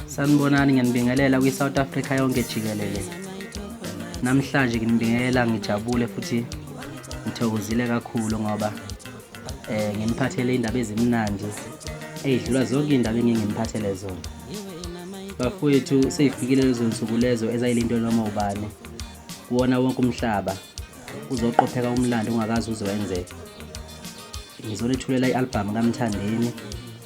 Sanibonani ngiyanibingelela kwi-South Africa yonke jikelele. Namhlanje nginibingelela ngijabule futhi ngithokozile kakhulu ngoba eh ngimphathele indaba ezimnandi eyidlula zonke indaba engingimphathele zona. Bafowethu seyifikile lezo nsuku lezo ezayilento noma ubani kuwona wonke umhlaba uzoqopheka umlando ungakazi uzowenzeka. Ngizonethulela i-albhamu kaMthandeni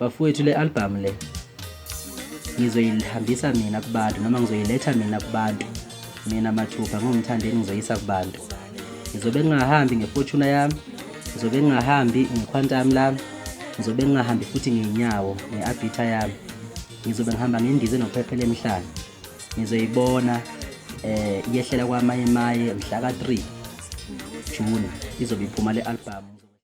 bafowethu le albhamu le ngizoyihambisa mina kubantu noma ngizoyiletha mina kubantu mina mathupha ngingumthandeni ngizoyisa kubantu ngizobe ngingahambi ngefortuna yami ngizobe ngingahambi ngequantum lami ngizobe ngingahambi futhi ngeyinyawo nge-abhitha yami ngizobe ngihamba ngendize nophephela emhlane ngizoyibona eh yehlela kwamaye maye mhla ka-3 June izobe iphuma le albhamu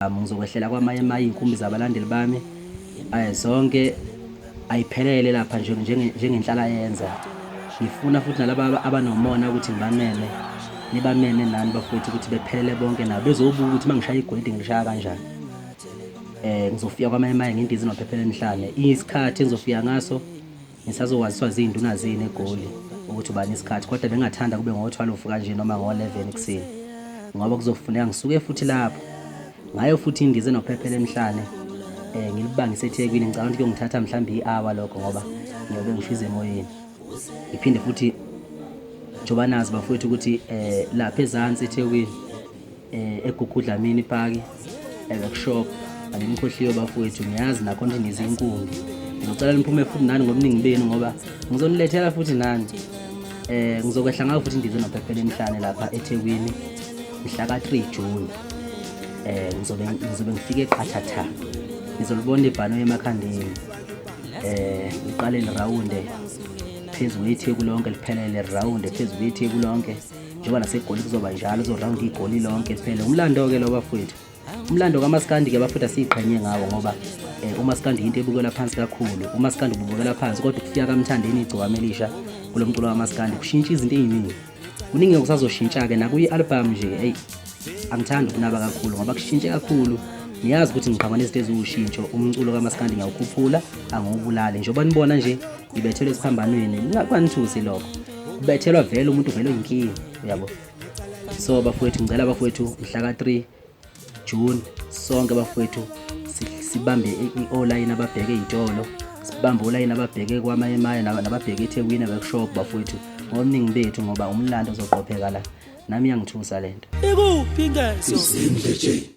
um, ngizokwehlela kwamanye amanye iy'nkumbi zabalandeli bami um zonke ayiphelele lapha nje njengenhlala yenza ngifuna futhi nalaba abanomona ukuthi ngibameme nibameme nani bafowethu ukuthi bephelele bonke nabo bezobuka ukuthi uma ngishaya igwedi ngilishaya kanjani um ngizofika kwamanye amanye ngendiza nophephela emhlane isikhathi engizofika ngaso Ngisazokwaziswa ziy'nduna zenu eGoli ukuthi ubani isikhathi kodwa bengingathanda kube ngo-12 kanje noma ngo-11 ekuseni ngoba kuzofuneka ngisuke futhi lapho ngayo futhi indize nophephela emhlane um eh, ngilibangise ethekwini ngicabanga ukuthi kuyongithatha mhlawumbe i-awa lokho ngoba ngiyobe ngishize emoyeni ngiphinde futhi njengoba nazi bafowethu ukuthi um lapha ezansi ethekwini eh, egugudla mini paki eworkshop alimkhohliwe bafowethu ngiyazi nakho nje ngizinkungi ngicela niphume futhi nani ngobuningi benu ngoba ngizonilethela futhi nani eh ngizokwehla ngayo futhi ndize nophephela emhlane lapha eThekwini mhla ka 3 June eh ngizobe ngizobe ngifike eqhathatha ngizolibona ibhano emakhandeni eh iqale lirawunde phezulu itheku lonke liphelele lirawunde phezulu itheku lonke njengoba nasegoli kuzoba njalo uzorhawunda igoli lonke liphele umlando-ke lo bafowethu umlando kamaskandi-ke bafowethu asiyiqhenye ngawo ngoba um umaskandi yinto ebukelwa phansi kakhulu umaskandi ububukela phansi kodwa ukufika kamthandeni igcokama elisha kulo mculo kamaskandi kushintsha izinto ey'ningi kuningi kusazoshintsha-ke nakuyi-albhamu nje eyi angithandi ukunaba kakhulu ngoba kushintshe kakhulu niyazi ukuthi ngiqhamuka nezinto eziwushintsho umculo kamaskandi ngiyawukhuphula angiwubulali njengoba nibona nje ngibethelwe esiphambanweni kunganithusi lokho bethelwa vele umuntu vele oyinkinga uyabo so bafowethu ngicela abafowethu mhla ka-3 june sonke bafowethu sibambe i-olayini ababheke iy'tolo sibambe olayini ababheke kwamayemaye nababheke ethekwini abekushop bafowethu ngobuningi bethu ngoba umlando uzoqopheka la nami iyangithusa le nto ikuphi ngeso